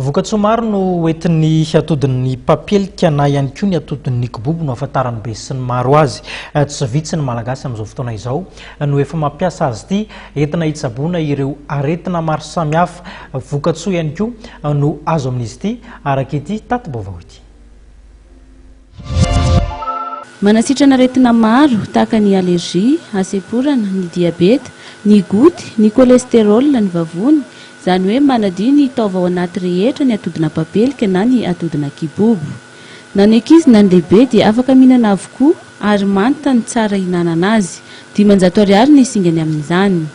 Vokatsoa maro no hoentin'ny atodin'ny papelika na ihany koa ny atodin'ny kibobo no ahafantaran'ny besinimaro azy. Tsy vitsy ny Malagasy amin'izao fotoana izao no efa mampiasa azy ity entina hitsaboana ireo aretina maro samihafa. Vokatsoa ihany koa no azo amin'izy ity araka ity tati-baovao ity. Manasitrana aretina maro tahaka ny allergie, hasemporana, ny diabeta, ny goty, ny cholestérol, ny vavony, izany hoe manadio ny taova ao anaty rehetra ny atodin'ampapelika na ny atodin'akibobo. Na ny ankizy na ny lehibe dia afaka mihinana avokoa ary manta no tsara ihinanana azy. Dimanjato ariary ny singany amin'izany.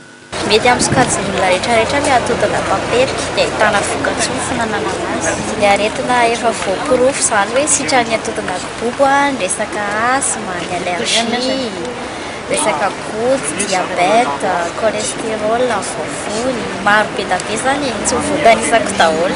Mety amin'ny sokajin'ny olona rehetrarehetra ny hatodana papelika, dia ahitana vokatsoa ny fananana azy. Ny aretina efa voaporofo izany hoe sitran'ny hatodana kibobo ny resaka asthme, ny allergie, resaka goty, diabète, cholesterol amin'ny vavony. Maro be dia be izany e, tsy ho voatanisako daholo.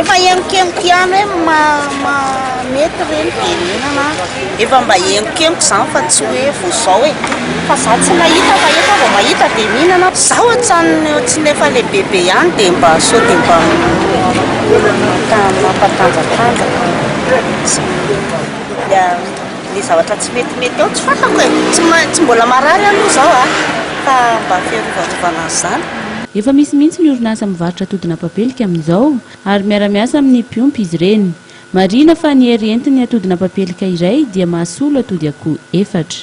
Efa henokenoka ihany hoe ma mety re ny firenena efa mba henokenoka izany fa tsy hoe vao izao e, fa za tsy mahita fa efa vao mahita dia mihinana, za ohatran'ny ohatran'ny efa lehibebe ihany dia mba sao dia mba mampatanjatanjaka. Ny zavatra tsy metimety ao tsy fantako e! Tsy mahay, tsy mbola marary aloha izao a! Fa mba fiarovarovana an'izany. Efa misy mihitsy ny orinasa mivarotra atodin'apapelika amin'izao ary miara-miasa amin'ny mpiompy izy ireny. Marihina fa ny hery entin'ny atodin'apapelika iray dia mahasolo atody akoho efatra.